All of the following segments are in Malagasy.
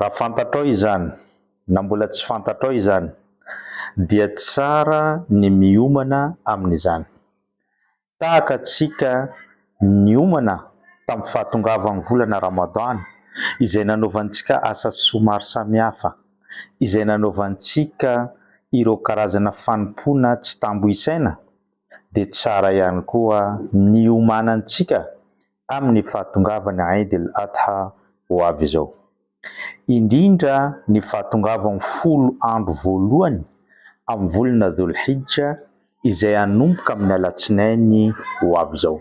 Raha fantatrao izany, na mbola tsy fantatrao izany, dia tsara ny miomana amin'izany. Tahaka antsika niomana tamin'ny fahatongavan'ny volana Ramadan, izay nanaovantsika asa soa maro samihafa, izay nanaovantsika ireo karazana fanompoana tsy tambo isaina, dia tsara ihany koa ny hiomanantsika amin'ny fahatongavan'ny Aïd el-Adha ho avy izao. Indrindra ny fahatongavan'ny folo andro voalohany amin'ny volana Dhul-Hijja izay hanomboka amin'ny alatsinainy ho avy izao.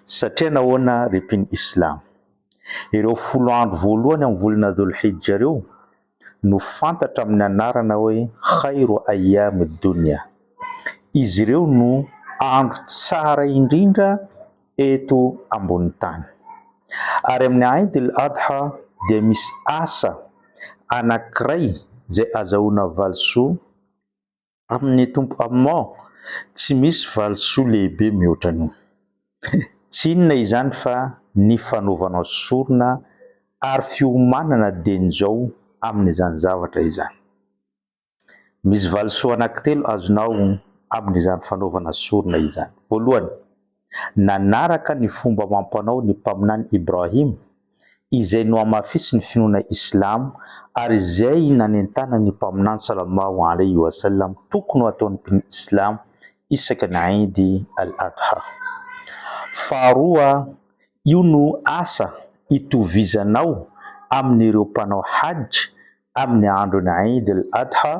Satria nahoana ry mpino Islamo? Ireo folo andro voalohany amin'ny volana Dhul-Hijja ireo no fantatra amin'ny anarana hoe Khairu Ayyami Dunya. Izy ireo no andro tsara indrindra eto ambonin'ny tany. Ary amin'ny Aid al-Adha dia misy asa anankiray izay azahoana valisoa, Amin'ny Tompo Amen! Tsy misy valisoa lehibe mihoatra an'io. Tsy inona izany fa ny fanaovanao sorona ary fiomanana dieny izao amin'izany zavatra izany. Misy valisoa anankitelo azonao amin'izany fanaovana sorona izany. Voalohany. nanaraka ny fomba amam-panao ny Mpaminany Ibrahim, izay nohamafisin'ny finoana Islamo, ary izay nanentana ny Mpaminany Sallallahu alaihi wa sallam tokony ho ataon'ny mpino Islamo isaka ny Eid al-Adha. Faharoa, io no asa itovizanao amin'ireo mpanao Hajj amin'ny andron'ny Eid al-Adha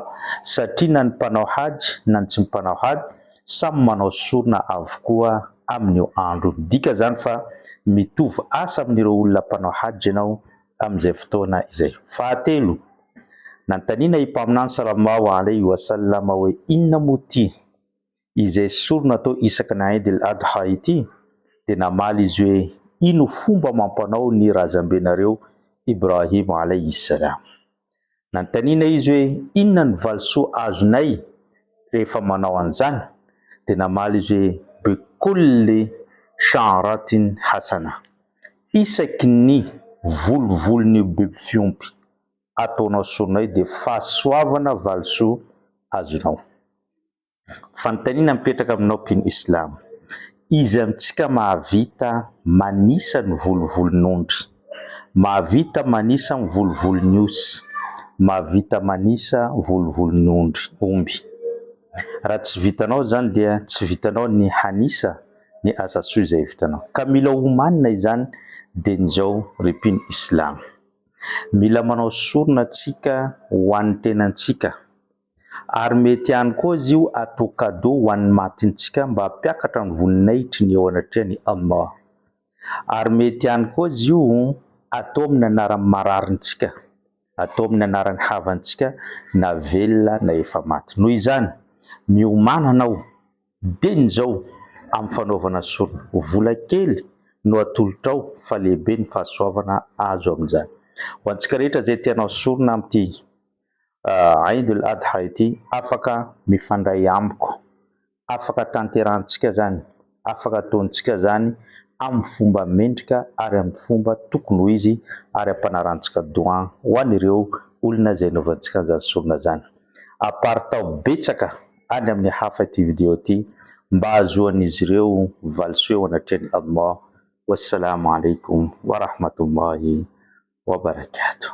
satria na ny mpanao Hajj na ny tsy mpanao Hajj samy manao sorona avokoa amin'io andro io. Midika izany fa mitovy asa amin'ireo olona mpanao Hajj ianao amin'izay fotoana izay. Fahatelo, Nanontaniana i Mpaminany sallallahu alaihi wa sallam hoe, Inona moa ity? izay sorona atao isaky ny Aid el Adha ity dia namaly izy hoe ino fomba amam-panao ny razambenareo Ibrahim alayhi salam. Nanontaniana izy hoe inona ny valisoa azonay rehefa manao an'izany dia namaly izy hoe bi kulli sha'ratin hasanah, isaky ny volovolon'io biby fiompy ataonao soronay dia fahasoavana valisoa azonao. Fanontaniana mipetraka aminao mpino Islam. Iza amintsika mahavita manisa ny volovolon'ondry? Mahavita manisa ny volovolon'ny osy? Mahavita manisa volovolon'ny ondry, omby? Raha tsy vitanao izany dia tsy vitanao ny hanisa ny asan-tsoa izay vitanao. Ka mila homanina izany dieny izao ry mpino Islam. Mila manao sorona tsika ho an'ny tenantsika. Ary mety ihany koa izy io atao cadeau ho an'ny matintsika mba hampiakatra ny voninahitry ny eo anatrehan'i Allah. Ary mety ihany koa izy io atao amin'ny anaran'ny mararintsika, atao amin'ny anaran'ny havantsika na velona na efa maty. Noho izany, miomàna anao, diny izao amin'ny fanaovana sorona. Vola kely no atolotrao fa lehibe ny fahasoavana azo amin'izany. Ho antsika rehetra izay te-hanao sorona amin'ity Eid Al Adha ity afaka mifandray amiko, afaka tanterahintsika izany, afaka ataontsika izany amin'ny fomba mendrika ary amin'ny fomba tokony ho izy ary ampanarantsika doha ho an'ireo olona izay anaovantsika an'izany sorona izany. Aparitaho betsaka any amin'ny hafa ity video ity mba hahazoan'izy ireo valisoa eo anatrehan'i Allah. Wassalamu Alaikum Wa Rahmatullahi Wa Barakatuh.